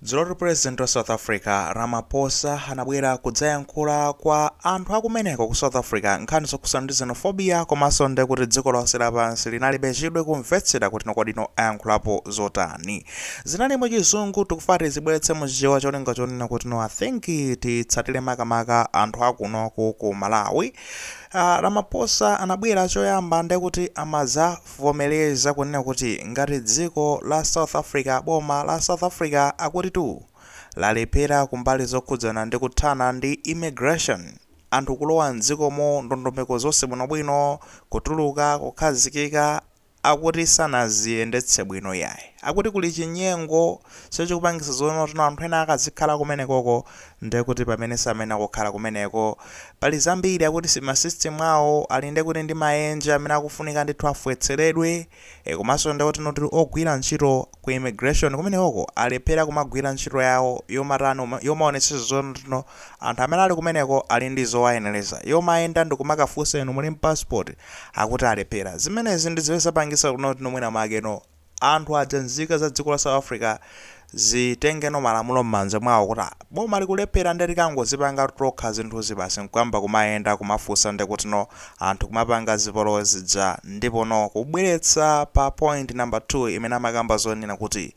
Dzulo tu President wa South Africa Ramaphosa anabwera kudzayankhula kwa anthu akumeneko ku South Africa nkhani zokhudzana ndi xenophobia komanso nde kuti dziko lonse lapansi linalibe chidwi kumvetsera kuti no kodi no ayankhulapo zotani. Zinali mu chizungu tikufuna tizibweretse mu chichewa cholinga chonena kuti no I think titsatire makamaka anthu akunoku ku Malawi. Uh, Ramaphosa anabwera choyamba nde kuti amaza vomeleza kunena kuti ngati dziko la South Africa boma la South Africa akuti tu lalephera kumbali zokhudzana ndi kuthana ndi immigration, anthu kulowa m'dziko mo ndondomeko zonse bwinobwino, kutuluka, kukhazikika, akuti sanaziyendetse bwino iyayi. Akuti kuli chinyengo cho chikupangisa zonoti no anthu ena akazikhala kumenekoko ndekuti pamene samayenera kukhala kumeneko. Pali zambiri akuti si ma system awo ali ndekuti ndi maenje amene akufunika ndithu afwetseredwe, e komanso ndekuti no ogwira ntchito ku immigration kumenekoko alephera kumagwira ntchito yawo yomatani yomaonetsetsa zoti ndithu anthu amene ali kumeneko ali ndi zowayenereza, yomayenda ndikumakafunsa inu muli ndi passport? Akuti alephera. Zimenezi ndi zimene zapangitsa kuti no mwina mwake no. Anthu aja nzika za dziko la South Africa zitengeno malamulo mmanja mwawo kuti ah boma likulephera nde tikangodzipanga tokha zinthuzi basi nkuyamba kumayenda kumafunsa ndekuti no anthu kumapanga zipolowe zija ndipono kubweretsa pa point number 2 imene amakamba zonena kuti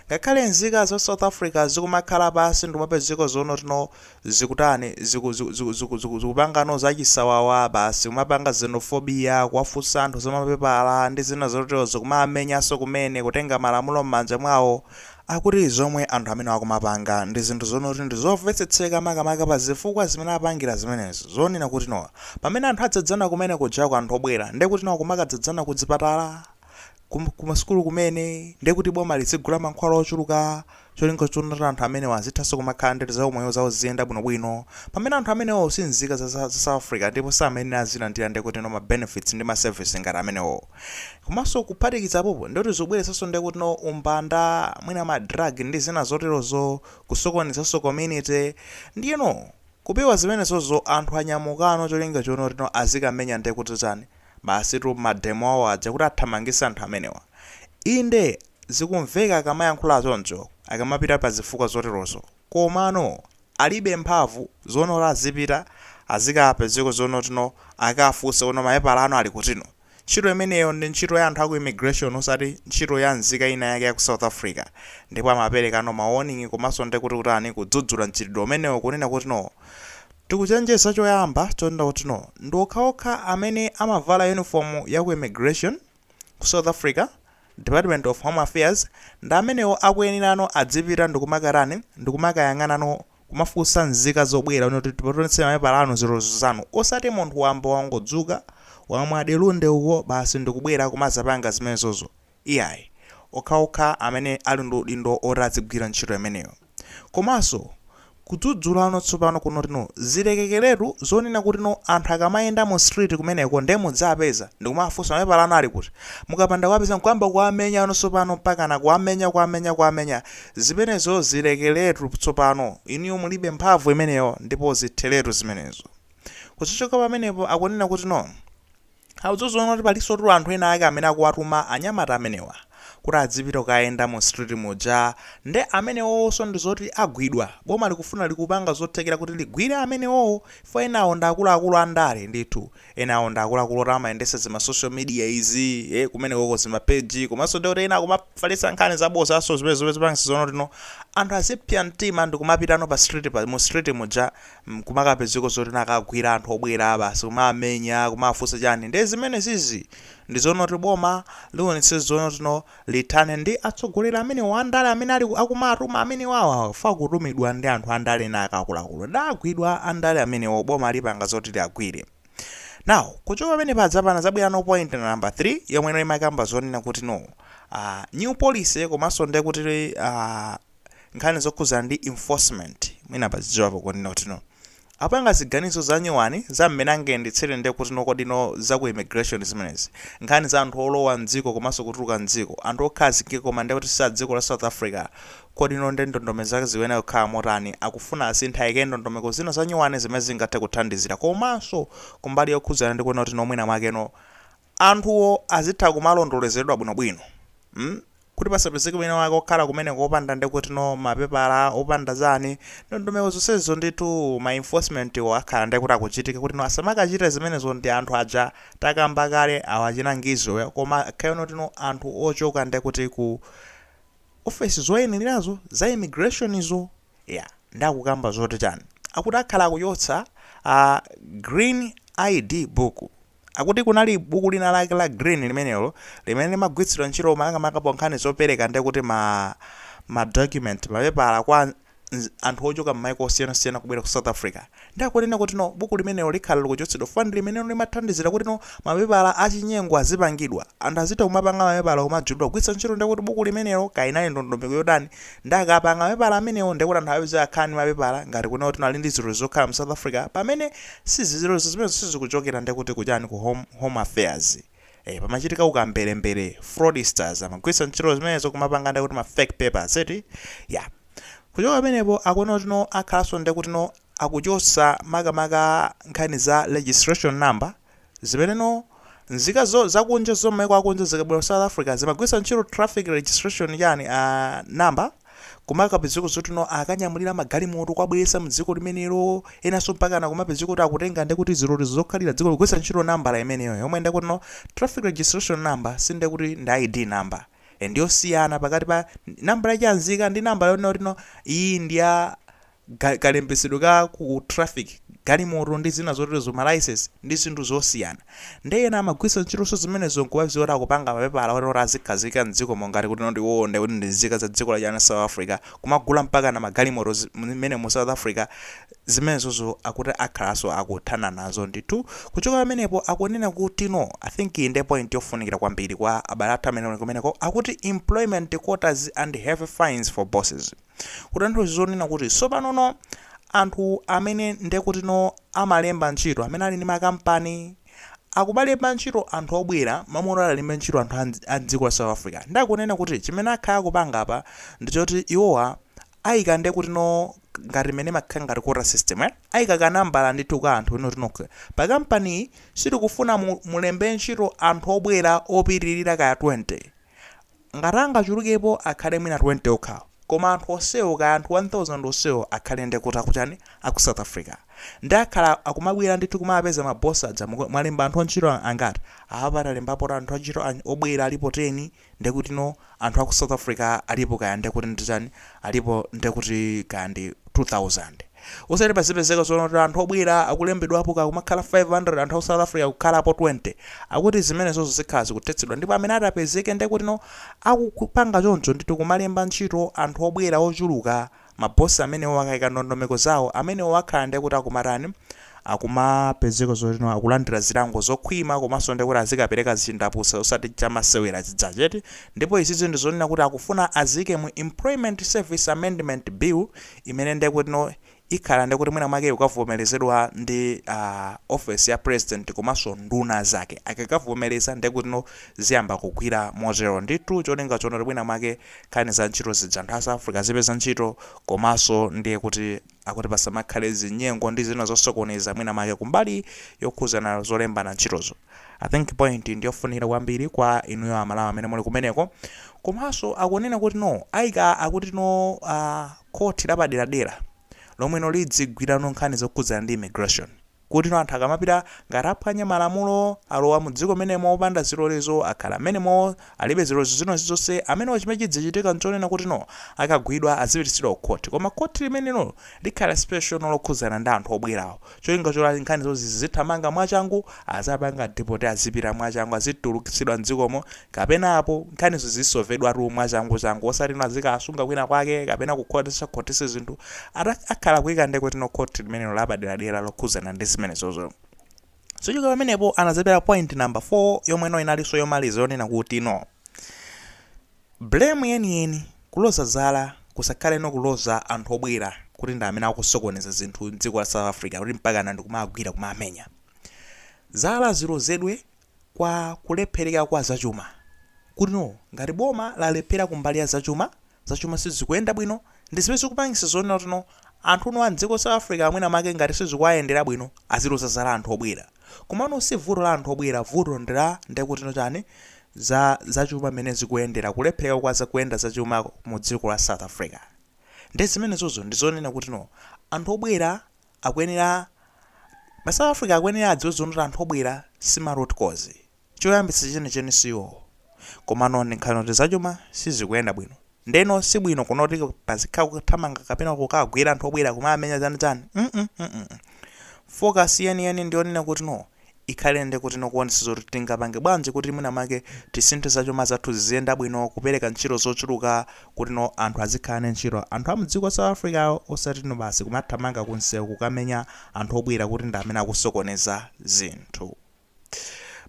ngakhale nzika za South Africa zikumakhala pansi ndikumapezeka zonoti no zikutani zikupangano zachisawawa basi kumapanga xenophobia kuwafunsa anthu za mapepala ndi zina zoterozo kumawamenyanso kumene kutenga malamulo m'manja mwawo akuti zomwe anthu amenewa akumapanga ndi zinthu zonoti ndi zomvetsetseka makamaka pa zifukwa zimene apangira zimenezo zonena kuti no pamene anthu adzadzana kumene kujako anthu obwera ndekuti no kumakadzadzana kudzipatala ku masukulu kumene ndiye kuti boma lizigula mankhwala ochuluka cholinga choti anthu amenewa azithanso kumakhala ndi zaumoyo zawo ziziyenda bwinobwino pamene anthu amenewo si nzika za za South Africa ndipo samayenera azilandira ndiye kuti no ma benefits ndi ma service ngati amenewo komanso kuphatikiza apapo ndiye kuti zikubweretsanso ndiye kuti no umbanda mwina ma drug ndi zina zoterozo kusokonezanso community ndiyeno kupewa zimenezozo anthu anyamukano cholinga choti no azikamenya ndiye kuti chani Basitu ma demo awo aja kuti athamangitse anthu amenewa. Inde zikumveka akamayankhula choncho akamapita pa zifukwa zoterozo komano alibe mphamvu zonoti azipita azikapezeka zonoti no akafunse kuti no mapepala anu ali kutino. Ntchito imeneyo ndi ntchito ya anthu aku immigration osati ntchito ya nzika ina yake yaku South Africa ndipo amaperekano ma warning komanso ndekuti kutani kudzudzula mchitidwe umenewo kunena kutino Tikuchenjeza choyamba chonena kuti no ndi okhaokha amene amavala yunifomu ya ku Immigration ku South Africa, Department of Home Affairs, ndi amenewo akuyenera no adzipita ndikumakatani ndikumakayang'ana no kumafunsa nzika zobwera kuno kuti tipatseni tione mapepala anu zilolezo zanu osati munthu wamba wangodzuka wamwa delunde uko basi ndikubwera kumazapanga zimenezozo. Iyayi. Okhaokha amene ali ndi udindo oti adzigwira ntchito imeneyo. Komanso, kudzudzulano tsopano kunotino zilekekeretu zonena kutino anthu akamayenda mu street kumeneko nde mudziwapeza ndikumafunsa mapepala anu ali kuti? Mukapanda kuwapeza nkuyamba kuwamenyano tsopano mpakana kuwamenya kuwamenya kuwamenya zimenezo zilekeretu tsopano inuyo mulibe mphamvu imeneyo ndipo zitheretu zimenezo. Kuchoka pamenepo akunena kutino. Awudziwa zonena kuti palinso anthu ena ake amene akuwatuma anyamata amenewa kuti adzipita kukayenda mu street muja nde amenewowonso ndi zoti agwidwa, boma likufuna likupanga zothekera kuti ligwire amenewowo chifukwa enawo ndi akuluakulu a ndale ndithu, enawo ndi akuluakulu oti amayendetsa zima social media izi ee kumenekoko zima page komanso nde kuti ena akumafalitsa nkhani zabodza zimene zomwe zipangitsa zonena kuti no anthu azipsa mtima ndikumapitano pa street pa mu street muja kumakapezeka zoti akagwira anthu obwera basi kumamenya kumafunsa chani nde zimenezizi ndi zonena kuti boma lionetse zonena kuti no lithane ndi atsogoleri amenewa andale amene ali akumatuma amenewawa chifukwa akutumidwa ndi anthu andale ndi akuluakulu nde agwidwa andale amenewo boma lipanga zoti liwagwire now kuchoka pamenepa tsopano zabwera no point number 3 yomwe no imakamba zonena kuti no uh, new policy komanso nde kuti uh, nkhani zokhudzana ndi enforcement mwina pazidziwapo kunena kuti no apanga ziganizo zanyuwani za mmene angayendetsere nde kuti no kodi no za ku immigration zimenezi nkhani za anthu olowa m'dziko komanso kutuluka m'dziko anthu okhazikika koma nde kuti si a dziko la South Africa kodi no nde ndondomeko zake zikuyenera kukhala motani akufuna asinthe ayike ndondomeko zina zanyuwani zimene zingathe kuthandizira komanso kumbali yokhudzana ndi kunena kuti no mwina mwake no anthuwo azitha kumalondolozedwa bwinobwino mm kuti pasapezeke wina wake okhala kumeneko opanda ndekutino mapepala opanda chani ndondomeko zonsezo ndithu ma enforcement wo akhala ndekuti akuchitika kutino asamakachita zimenezo ndi anthu aja takamba kale awo achina Ngizwe wo koma akhale no kutino anthu ochoka ndekuti ku ofesi zoyenelerazo za immigration zo ya nde akukamba zoti chani akuti akhala akuchotsa a green ID book akuti kunali buku lina lake la green limenelo limene limagwiritsidwa ntchito makamaka pankhani zopereka nde kuti ma ma document mapepala kwa nz- anthu ochoka m'maiko osiyanasiyana kubwera ku south africa Ndiye akunena kuti no buku limenelo likhala likuchotsedwa fukwa ndi limenelo limathandizira kuti no mapepala achinyengo azipangidwa. Anthu azitha kumapanga mapepala kumajulidwa kugwiritsa ntchito ndiye kuti buku limenelo kaya inali ndondomeko yotani ndiye akapanga mapepala amenewo ndiye kuti anthu apeze akhala ndi mapepala ngati kunena kuti no ali ndi zilolezo zokhala mu South Africa pamene sizi zilolezo zimenezo sizikuchokera ndiye kuti ku chani ku home affairs eh pamachitika ukamberembere fraudsters amagwiritsa ntchito zimenezo kumapanga nde kuti ma fake papers eti ya kuchoka pamenepo akuona kuti no akhalanso ndi kuti no akuchotsa makamaka nkhani za registration number zimene no nzika zakunja za m'maiko akunja zikabwera ku south africa zimagwiritsa ntchito traffic registration yani uh, number Kumakapezeka zotino akanyamulira magalimoto kuwabweretsa mdziko limenelo enanso mpakana kumapezeka kuti akutenga ndekuti zilolezo zokhalira mdziko kugwiritsa ntchito nambala imeneyo yomwe ndekutino traffic registration number sindekuti ndi ID number ndiyosiyana pakati pa nambala ya chanzika ndi nambala yonena kutino iyi ndiya ga, kalembetsedwe ka ku traffic, galimoto ndi zina zoterozo, ma license, ndi zinthu zosiyana. Ndiye ena amagwiritsa ntchitonso zimenezo n'kumadziwa kuti akupanga mapepala oti, oti azikhazikika m'dzikomo ngati kuti no iwowo nde kuti ndi nzika za dziko la chani, South Africa, kumagula mpakana magalimoto zi, m'mene mu South Africa, zimenezozo akuti akhalanso akuthana nazo ndithu. Kuchoka pamenepo akunena kuti no, I think iyi ndiye point yofunikira kwambiri kwa abale athu amene ali kumeneko, akuti employment quotas and heavy fines for bosses. Kutanthauza zonena kuti tsopanono anthu amene ndekutino amalemba ntchito, amene ali ndi makampani, akumalemba ntchito anthu obwera, m'malo moti awalembe ntchito anthu a m'dziko la South Africa. Nde akunena kuti chimene akhala akupanga apa ndi choti iwowa aika ndekutino ngati m'mene imakhala ngati quota system eh, aika ka nambala ndithu ka anthu kunena kuti no pakampaniyi sitikufuna mu, mulembe ntchito anthu obwera opitirira kaya 20. Ngati angachulukepo akhale mwina 20 okhawo koma anthu onsewo kaya anthu 1000 onsewo akhale nde kuti akuchani aku south africa nde akhala akumabwela ndithu kumapeza ma boss aja mwalemba anthu antchito angati apapa talembapo anthu antchito obwela alipo 10 ndekuti no anthu aku south africa alipo kaya ndekuti ndichani alipo ndekuti kaya ndi 2000 Osati pazipezeka zonena kuti anthu obwera akulembedwapo kaya kumakhala 500 anthu aku South Africa kukhalapo 20. Akuti zimenezozo zikhala zikuthetsedwa ndipo amene ati apezeke nde kutino akupanga choncho ndithu kumalemba ntchito anthu obwera ochuluka ma boss amenewo akaika ndondomeko zawo amenewo akhala nde kuti akumatani akumapezeka zotino akulandira zilango zokhwima komanso nde kuti azikapereka chindapusa osati chamasewera chijachi eti ndipo izizi ndizonena kuti akufuna aziike mu Employment Service Amendment Bill imene ndekutino ikhala ndiye kuti mwina mwake ikakavomerezedwa ndi uh, office ya president komanso nduna zake akakavomereza ndiye kutino ziyamba kugwira motero ndithu cholinga chonoti mwina mwake nkhani za ntchito zija anthu a south africa azipeza ntchito komanso ndiye kuti akuti pasamakhale zinyengo ndi zina zosokoneza mwina mwake kumbali yokhuzana zolembana ntchitozo I think point ndiyofunikira kwambiri kwa inuyo amalawi amene muli kumeneko komanso akunena kuti no aika akuti no uh, khoti lapaderadera lomwe no lizigwira no nkhani zokhudzana ndi immigration kuti no anthu akamapita ngati aphwanya malamulo alowa mu dziko menemo opanda zilolezo akhala menemo alibe zilolezo zina zonse amenewo chimene chidzichitika nchonena kuti no akagwidwa azipititsidwa ku khoti koma khoti limenelo likhala special no lokhudzana ndi anthu obwerawo cholinga choti nkhanizo zizithamanga mwachangu, aziwapanga deport azipita mwachangu azitulukitsidwa mdzikomo kapena apo nkhanizo zizisovedwatu mwachangu changu osatino azikawasunga kwina kwake kapena kukhotesakhotesa zinthu akhala kuika ndekutino court limenelo lapaderadera lokhuzana ndi zimenezozo. Kuchoka pamenepo anazapereka point number 4 yomweno inalinso yomaliza yonena kutino. Blame yeniyeni, kuloza zala, kusakhale no kuloza anthu obwera kuti ndi amene akusokoneza zinthu mdziko la South Africa kuti mpakana ndikumawagwira kumawamenya. Zala zilozedwe kwa kulephereka kwa zachuma. Kutino ngati boma lalephera kumbali ya zachuma, zachuma sizikuyenda bwino, ndi zimene zikupangisa zonena kuti no anthu no a mdziko South Africa mwina mwake ngati sizikuwayendera bwino aziloza zala anthu obwera. Komano si vuto la anthu obwera, vuto ndi la ndikutino chani za zachuma mmene zikuyendera, kulephereka kwa za kuyenda zachuma mu dziko la South Africa. Nde zimenezozo ndi zonena kutino anthu obwera akuyenera, ma South Africa akuyenera adziwe zonoti anthu obwera si ma root cause. Choyambitsa chenicheni si iwowo. Komano ndi nkhani yoti zachuma sizikuyenda bwino. Ndeno si bwino kunoti pazikhala kuthamanga kapena kukawagwira anthu obwera kumamenya zani zani mm mm. Focus yeni yeni ndi yonena kuti no ikhale ndekuti no kuonetsetsa zoti tingapange bwanji kuti mwina mwake tisinthe zachuma zathu ziziyenda bwino kupereka ntchito zochuluka kuti no anthu azikhala ndi ntchito anthu amdziko la South Africa osati no basi kumathamanga kumsewu kukamenya anthu obwera kuti ndi amene akusokoneza zinthu.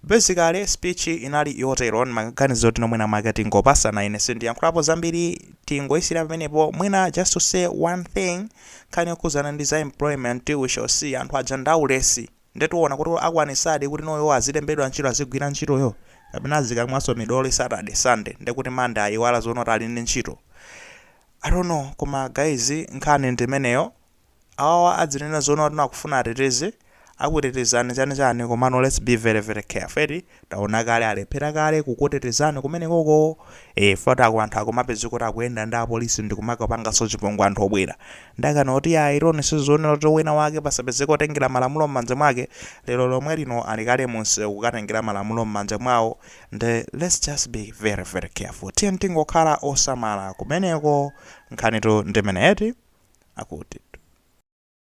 basically speech inali yotero ndimaganiza kuti no mwina mwake tingopasana ine sindiyankhulapo zambiri tingoyisira pamenepo mwina just to say one thing nkhani yokhuzana ndi za employment we shall see anthu aja ndaulesi ndetiwona kuti akwanisadi kuti no iwo azilembedwa ntchito azigwira ntchitoyo kapena azikamwaso midoli saturday sunday ndekuti monday ayiwala zonoti ali ndi ntchito i don't know koma guys nkhani ndimeneyo awawa adzinena zoona kuti akufuna ateteze akutetezani chani chani komano let's be very very careful eti taona kale alephera kale kukutetezani kumenekoko eh fot ako anthu akumapezeka kuti akuyenda ndi apolisi ndikumakapanganso chipongwe anthu obwera ndakana kuti ya ironi sizionera kuti wina wake pasapezeka otengera malamulo m'manja mwake lero lomwe lino ali kale mumsewu kukatengera malamulo m'manja mwawo Nde let's just be very very careful tiyeni tingokhala osamala kumeneko. Nkhanitu ndimeneyo eti? Akutitu.